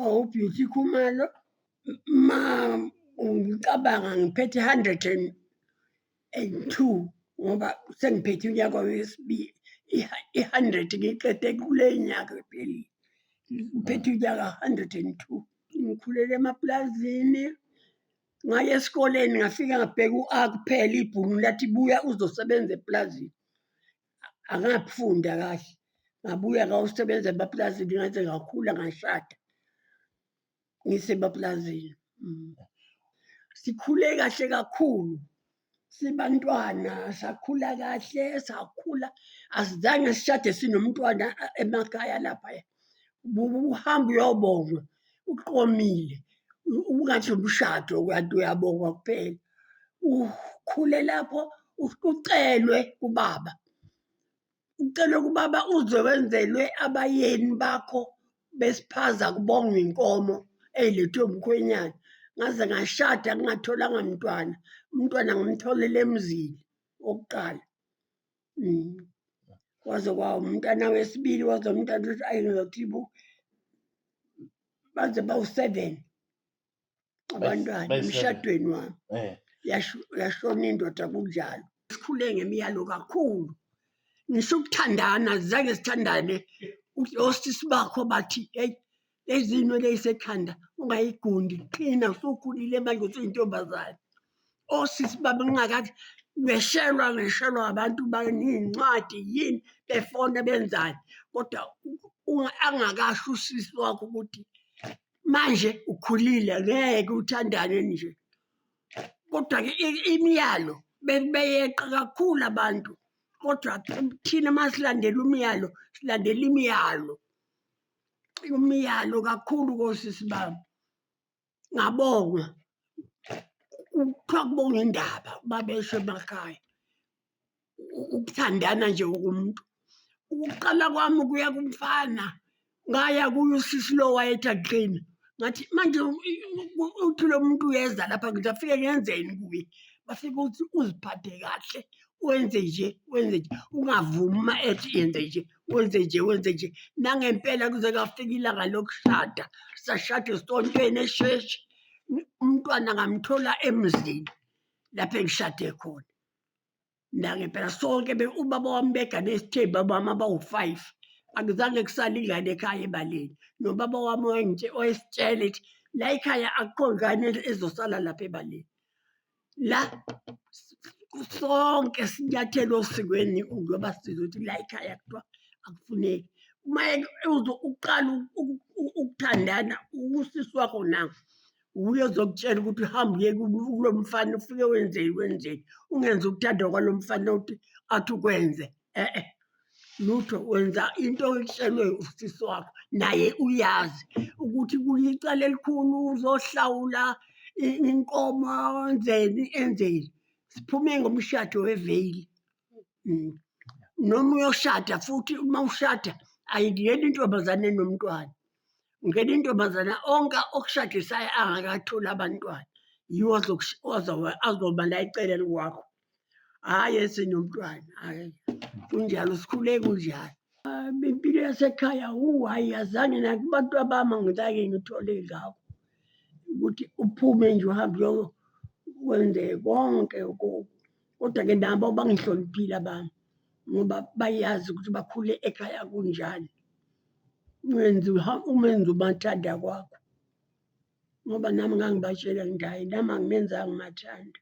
Awu Beauty Khumalo uma ngicabanga ngiphethe hundred and and two ngoba sengiphethe unyaka wesibili i-hundred ngiyiqede kule nyanga ephelile. Ngiphethe unyaka hundred and two. Ngikhulele emapulazini, ngaya esikoleni ngafika ngabheka u-A kuphela ibhungu lathi buya uzosebenza epulazini. angafunda kahle ngabuya ngawusebenza emapulazini ngaze ngakhula ngashada ngisemapulazini mm. sikhule kahle kakhulu sibantwana sakhula kahle sakhula asizange sishade sinomntwana emakhaya laphaya uhambe uyobongwa uqomile ungathi umshado kanti uyabongwa kuphela ukhule lapho ucelwe kubaba ucelwe kubaba uze wenzelwe abayeni bakho besiphaza kubongwa inkomo eyilethwe umkhwenyana ngaze ngashada ngingatholanga mntwana umntwana ngimtholele emzini wokuqala Mm. Waze kwawo umntana wesibili waze umntana ukuthi ayi ngizothi bo baze bawu-seven abantwana bayi-seven. emshadweni wami Eh. Yasho- yashona indoda kunjalo sikhule ngemiyalo kakhulu ngisho ukuthandana zange sithandane osisi bakho bathi eyi lezinwele isekhanda ungayigundi qina usukhulile manje usuyintombazane osisi baba ngingakathi ngeshelwa ngeshelwa abantu baneyincwadi yini befona benzani kodwa angakasho usisi wakho ukuthi manje ukhulile ngeke uthandane nje kodwa-ke imiyalo beyeqa kakhulu abantu kodwa thina masilandela umyalo silandela imiyalo umyalo kakhulu kosisi bami ngabonga ukuthiwa kubonga indaba babesho emakhaya ukuthandana nje umuntu ukuqala kwami kuya kumfana ngaya kuye usisi lo wayethi akuqini ngathi manje uthi lo muntu uyeza lapha ngithi afike ngenzeni kuye bafike ukuthi uziphathe kahle wenze nje wenze nje ungavumi uma ethi yenze nje wenze nje wenze nje nangempela kuze kafika ilanga lokushada sashade esontweni esheshi umntwana ngamthola emzini lapho engishade khona nangempela sonke ubaba wami begane esithembi abami abawu-five akuzange kusale ingane ekhaya ebaleni nobaba wami wayesitshela ethi la ekhaya akukho ngane ezosala lapha ebaleni la sonke sinyathelo osikweni ngoba sizothi la ikhaya kuthiwa akufuneki uma uqala ukuthandana usisi wakho nawo wuye ozokutshela ukuthi uhambe uye kulo mfana ufike wenzeni wenzeni ungenza ukuthanda kwalo mfana ukuthi athi ukwenze e-e lutho wenza into oyitshelwe usisi wakho naye uyazi ukuthi kuyicala elikhulu uzohlawula i- inkomo enzeni enzeni siphume ngomshado weveyili Mm. noma uyoshada futhi uma ushada ayingeni intombazane nomntwana ngena intombazane onke okushadisayo angakatholi abantwana yiwo azokush- azoba- azoba la eceleni kwakho hhayi esinomntwana hhayi kunjalo sikhule kunjalo ah, impilo yasekhaya wu hhayi yazange nakubantu abami angizange ngithole ngakho ukuthi uphume nje uhambe uyokwenze konke kodwa-ke nabo bangihloniphile abami ngoba bayazi ukuthi bakhule ekhaya kunjani umenze umenze umathanda kwakho ngoba nami ngangibatshela ngithi hhayi nami anginenzanga umathanda.